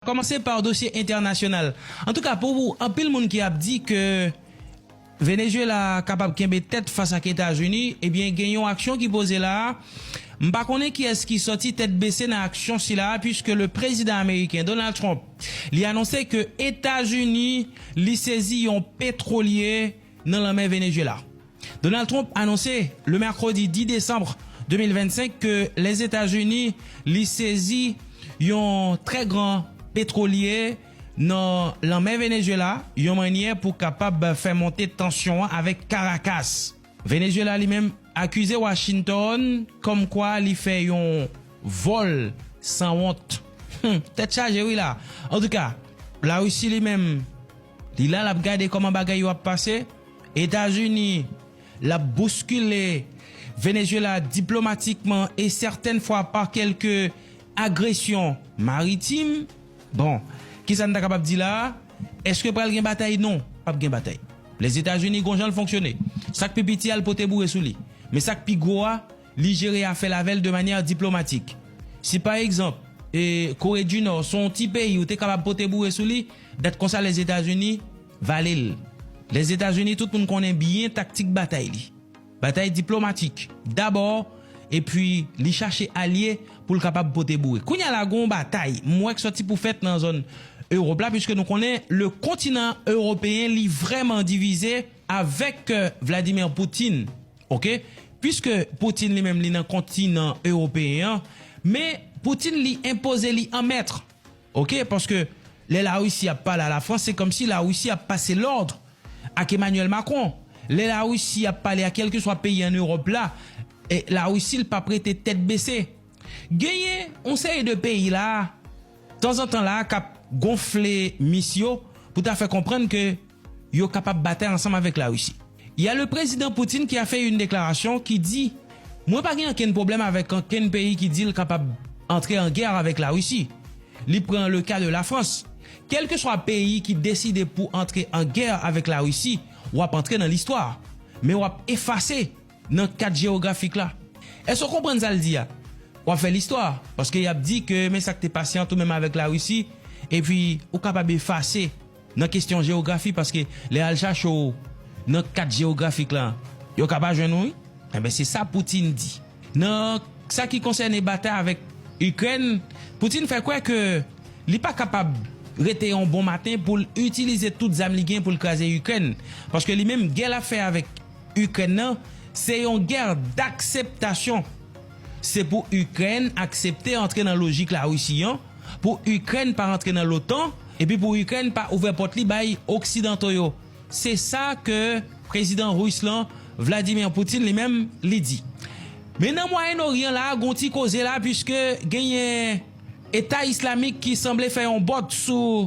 Kòmanse par dosye entènasyonal. Antouka pou anpil moun ki ap di ke Venezuela kapab kenbe tèt fas ak Etazini, ebyen gen yon aksyon ki poze la a. M pa konnen kiyès ki sòti tèt bese nan aksyon sila a puiske le prezidan ameriken Donald Trump li anonse ke Etazini li sezi yon petwolye, nan lanmè Venezuela. Donald Trump anonse le mèkredi 10 desanm 2025 ke Lèzetazini li sezi yon trè gran petwolye nan lanmè Venezuela yon mannyè pou kapab fè monte tansyon an avèk Karakas. Venezuela li menm akize Washington kòm kwa li fè yon vòl san wont. Humm tèt chaje wi la. Antouka, Larisi li menm. Li la lap gade koman bagay yo ap pase, Etazini lap bouskile Venezuela diplomatikman e sètèn fwa pa kelke agresyon maritim. Bon, kisa n ta kapab di la a? Eske pral gen batay? Non, pap gen batay. Lèzetazini gon jan l fonksyone. Sak pi piti a l pote boure sou li. Men sak pi gwo a. li jere afè l avè l de manyè diplomatik. Si pa egzanp, Kore di Nò se yon ti peyi ou te kapab pote boure sou li, dat konsa Lèzetazini vale l. Lèzetazini tout moun konnen byen taktik batay li. Batay diplomatik dabò epi li chache alye pou l kapab pote boure. Kounye a la gen yon batay m wè k sòti pou fèt nan zòn Ewòp la piske nou konnen le kontinan ewopeyen li vrèman divize avèk Vladimir Poutine. ok pwiske Putin li menm li nan kontinan ewopeyen an men Putin li enpoze li an mètr ok paske lè la Russie ap pale a la France se kòmsi la Russie ap pase lòdr ak Emmanuel Macron lè la Russie ap pale a kèlkeswa peyi an Europe la la Russie l pap rete tèt bese genyen yon seri de peyi la tanzantan la kap gonfle mis yo pou ta fè konprann ke yo kapab batay ansanm avèk Larisi. Y a le prezidan Putin ki a fè yn deklarasyon ki di mwen pa gen ankenn pwoblèm avèk ankenn peyi ki di l kapab antre an gè avèk Larisi. Li pran le ka de Lafrans. Kèlkeswa peyi ki deside pou antre an gè avèk Larisi, w ap antre nan listwa. Men w ap efase. Nan kat jewografik la. Èske w konprann sa l di a? W ap fè listwa, paske y ap di ke men sa k te pase ant ou menm avèk Larisi, epi ou kapab efase nan kesyon jewografi, paske lè y al chache w nan kat jewografik la, yo ka pa jwenn ou wi. Enben, se sa Putin di. Nan sa ki konsène batay avèk Ikrèn, Putin fè kwè ke li pa kapab rete yon bon maten pou l itilize tout zam li gen pou l kraze Ikrèn, paske li menm gè l ap fè avèk. Ikrèn nan, se yon gè dakseptasyon. Se pou Ikrèn aksepte antre nan lojik Larisi an, pou Ikrèn pa rantre nan lotan, epi pou Ikrèn pa ouvè pòt li bay oksidanto yo. Se sa ke prezidan ris lan, Vladimir Putin li menm, li di. Men nan Mwayen Oryan la, gon ti koze la, puiske genyen Eta Islamik ki sanble fè yon bòt sou.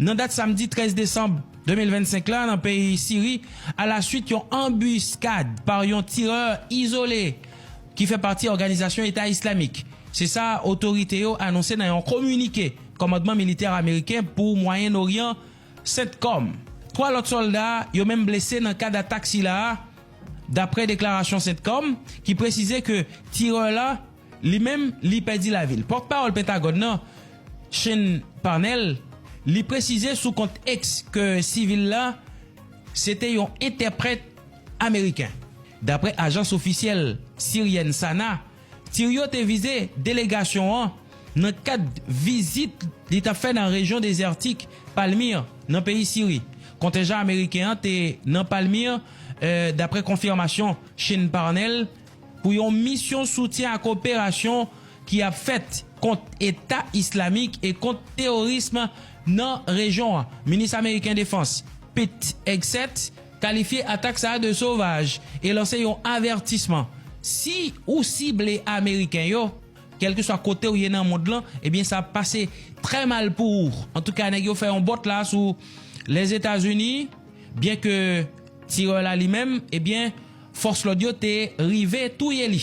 Nan dat samdi 13 desanm 2025 la nan peyi Siri, alaswit yon anbiskad pa yon tirè izole ki fè pati òganizasyon Eta Islamik. Se sa otorite yo anonse nan yon kominike kòmandman militè ameriken pou Mwayen Oryan, Centcom. 3 lòt sòlda yo menm blese nan kad atak sila a, dapre deklarasyon Centcom ki presize ke tirè la, Li menm, li pèdi lavi l. Pòtpawòl Pentagòn nan, Sean Parnell, li presize sou kont X ke sivil la se te yon entèprèt ameriken. Daprè ajans ofisyèl siryèn SANA, tir yo te vize delegasyon an nan kad vizit li t ap fè nan rejyon dezètik Palmyre nan peyi Siri. Kontenjan ameriken an te nan Palmyre, daprè konfimasyon Sean Parnell. pou yon misyon soutyen ak operasyon ki ap fèt kont Eta Islamik e kont teworism nan rejyon an. Minis ameriken defans Pete Hegseth kalifye atak sa a de sovaj e lanse yon avètisman, Si ou sible ameriken yo, kèlkeswa kote ou ye nan mond lan, ebyen sa ap pase trè mal pou ou. Antouka nèg yo fè yon bòt la sou Lèzetazini, byenke tirè la li menm, ebyen, Fòs lòd yo te rive touye li.